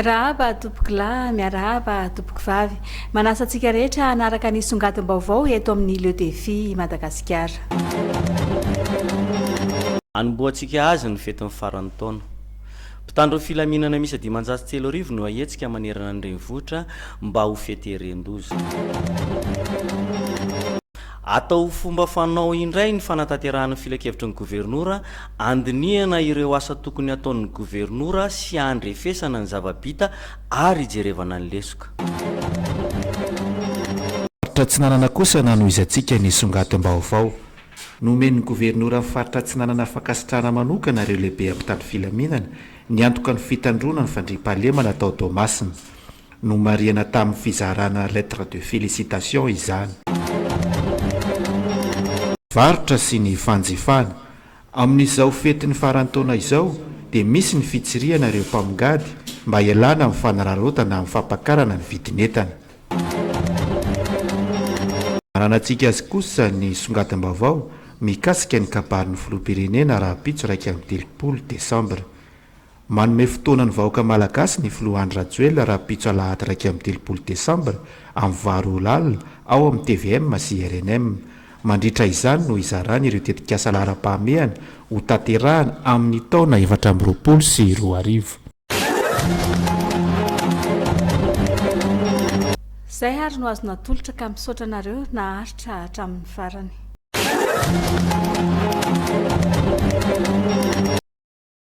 Miarahaba tompoko lahy, miarahaba tompoko vavy. Manasa antsika rehetra hanaraka ny songadim-baovao eto amin'ny Le Défi Madagasikara. Anombohantsika azy ny fetin'ny faran'ny taona. Mpitandro ny filaminana miisa dimanjato sy telo arivo no hahetsika manerana ny renivohitra mba ho fety erin-doza. Atao ho fomba fanao indray ny fanatanterahana ny filankevitry ny Governora, andinihana ireo asa tokony hataon'ny Governora sy handrefesana ny zava-bita ary hijerevana ny lesoka. Faritra Atsinanana kosa nanohizantsika ny songadim-baovao nomen'ny Governoran'ny Faritra Atsinanana fankasitrahana manokana ireo lehiben'ny mpitandro filaminana niantoka ny fitandroana ny fandriampahalemana tao Toamasina. Nomarihana tamin'ny fizarana lettre de félicitation izany. Varotra sy ny fanjifana. Amin'izao fetin'ny faran'ny taona izao dia misy ny fitsirihana ireo mpamongady mba hialana amin'ny fanararaotana amin'ny fampakarana ny vidin'entana. Ananantsika azy kosa ny songadim-baovao mikasika ny kabarin'ny filoham-pirenena rahampitso iraika amby telopolo desambra. Manome fotoana ny vahoaka Malagasy ny Filoha Andry Rajoelina rahampitso Alahady iraika amby telopolo Desambra amin'ny valo ora alina ao amin'ny tvm sy rnm. Mandritra izany no hizarany ireo tetikasa laharam-pahamehana ho tanterahany amin'ny taona efatra amby roapolo sy roa arivo. Zay ary no azo natolotra ka misaotra anareo naharitra hatramin'ny farany.